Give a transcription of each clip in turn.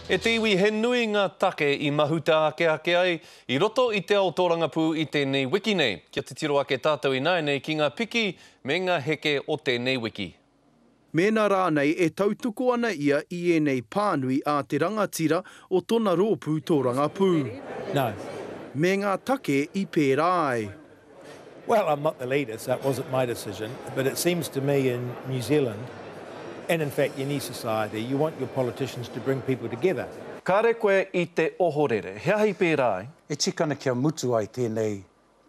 E te iwi he nui ngā take i mahuta ake ake ai i roto i te ao tōrangapū i tēnei wiki nei. Kia titiro ake tātou ināianei ki ngā piki me ngā heke o tēnei wiki. Mēnā rānei e tautoko ana ia i ēnei pānui a te rangatira o tona rōpū tōrangapū. Me ngā take i pērā ai. Well, I'm not the leader, so it wasn't my decision, but it seems to me in New Zealand, and in fact any society, you want your politicians to bring people together. Kāre koe i te ohorere. He aha i pērā ai? E tika ana kia mutu ai tēnei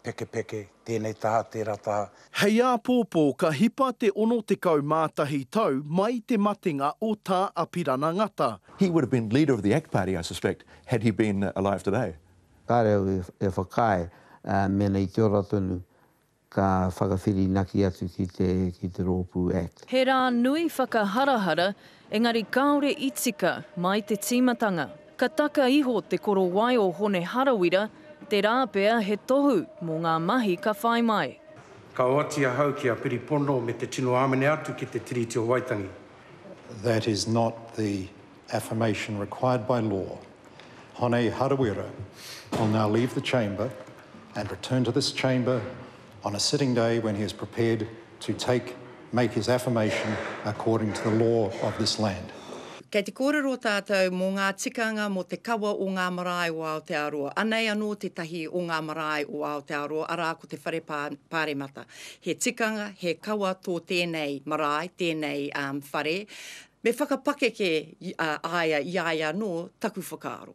pekepeke, tēnei taha, tērā taha. Hei āpōpō ka hipa te 61 tau mai te matenga o Tā Apirana Ngata. He would have been leader of the Ak Party, I suspect, had he been alive today. Kāre au e whakaae mēnā i te ora tonu ka whakawhirinaki atu ki te Rōpū Act. He rā nui whakaharahara, engari kāore i tika mai te tīmatanga. Ka taka iho te korowai o Hone Harawira, te rā pea he tohu mō ngā mahi ka whai mai. Ka oati ahau ki a Piripono me te tino āmene atu ki te Tiriti o Waitangi. That is not the affirmation required by law, Hone Harawira will now leave the chamber and return to this chamber on a sitting day when he is prepared to take, make his affirmation according to the law of this land. Kei te kōrero tātou mō ngā tikanga mō te kawa o ngā marae o Aotearoa. Anei anō tētahi o ngā marae o Aotearoa, arā ko te Whare Pā, Pāremata. He tikanga, he kawa tō tēnei marae, tēnei um, whare, Me whakapakeke a ia i a ia anō taku whakaaro.